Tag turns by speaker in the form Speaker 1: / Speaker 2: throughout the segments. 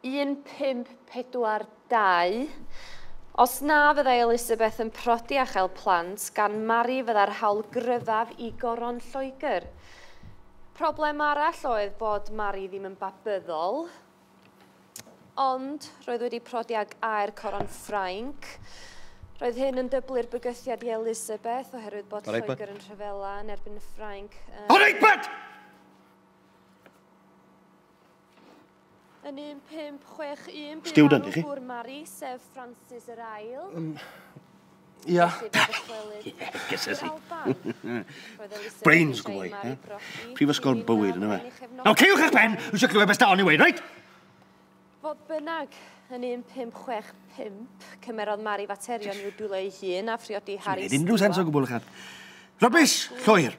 Speaker 1: 1542 Os na fyddai Elisabeth yn prodi a chael plant gan Mari fyddai'r hawl gryfaf i Goron Lloegr. Problem arall oedd bod Mari ddim yn babyddol, ond roedd wedi prodi ag air Coron Ffrainc. Roedd hyn yn dyblu'r bygythiad i Elisabeth oherwydd bod Lloegr yn rhyfela yn erbyn y Ffrainc. Yr Egbert! Yn 1561 bu Student farw gŵr
Speaker 2: Mari, sef
Speaker 1: Francis yr Ail. Um,
Speaker 2: Ia.
Speaker 3: Gysysi.
Speaker 2: Brains gwbl i. Prifysgol bywyd yna fe. Nawr, ceiwch eich pen, wisio clywed beth dawn i weid, reit? Fodd
Speaker 1: bynnag, yn 1565, cymerodd Mari faterion i'w dwylo ei hun a phriodi Harry Stewart. Unrhyw sens o gwbl ychan.
Speaker 2: Rybys, llwyr.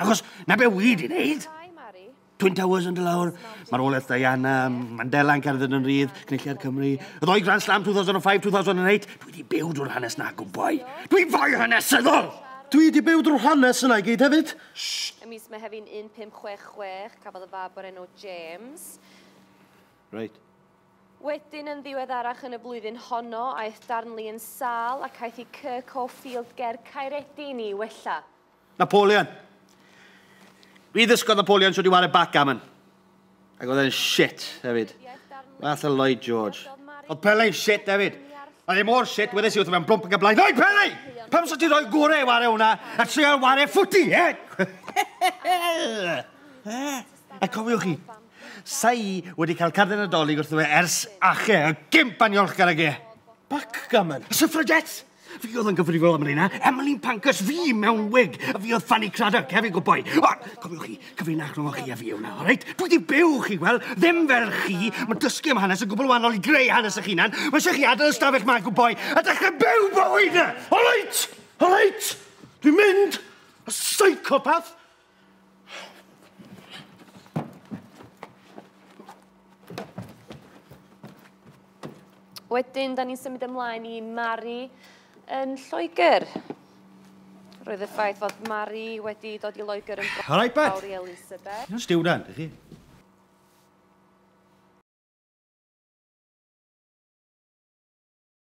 Speaker 2: Achos na be wyd i wneud. Twin Towers yn dylawr, marwolaeth Diana, Mandela yn cerdded yn rydd, cynulliad Cymru, y ddoi Grand Slam 2005-2008, dwi wedi byw drwy'r hanes na gwboi. Dwi'n fwy hanesyddol! Dwi wedi byw drwy'r hanes yna i gyd hefyd. Shh! Y mis
Speaker 1: Mehefin 1566, cafodd y fab o'r enw James.
Speaker 2: Reit.
Speaker 1: Wedyn yn ddiweddarach yn y flwyddyn honno, aeth Darnley yn sâl ac aeth i Kirkhope Field ger Caeredin i wella. Napoleon.
Speaker 2: Fi ddysgodd Napoleon sut i ware backgammon. Ac oedd e'n shit, hefyd. Fath o Lloyd George. Oedd Pele'n shit, hefyd. Oedd e mor shit, wedys i wrth mewn blwmp yn gael blaen. Oi, Pele! Pam sy'n ti'n rhoi gore i ware hwnna a trio ware ffwti, e? A cofiwch chi, sa'i wedi cael card yn y dolyg wrth fe ers ache, y gimp aniolchgar ag e. Backgammon? Suffragettes? Fi oedd yn gyfrifol am hynna. Emily Pancus, fi mewn wig. A fi oedd Fanny Craddock, hefyd go boi. O, cofiwch chi, cyfrinach rhwng chi a fi yw na, o reit? Dwi di byw chi, wel, ddim fel chi. Mae dysgu am hanes yn gwbl wahanol i greu hanes eich hunan. Mae eisiau chi adael ystafell ma, go boi, a dechrau byw bywyd na. O reit, o reit, dwi'n mynd, a psychopath.
Speaker 1: Wedyn, da ni'n symud ymlaen i Mari yn Lloegr.
Speaker 2: Roedd y
Speaker 1: ffaith fod Mari wedi dod i Loegr
Speaker 2: yn
Speaker 1: All right, Pat. i
Speaker 2: Elisabeth.
Speaker 1: Stiwrant,
Speaker 2: ydych
Speaker 1: chi?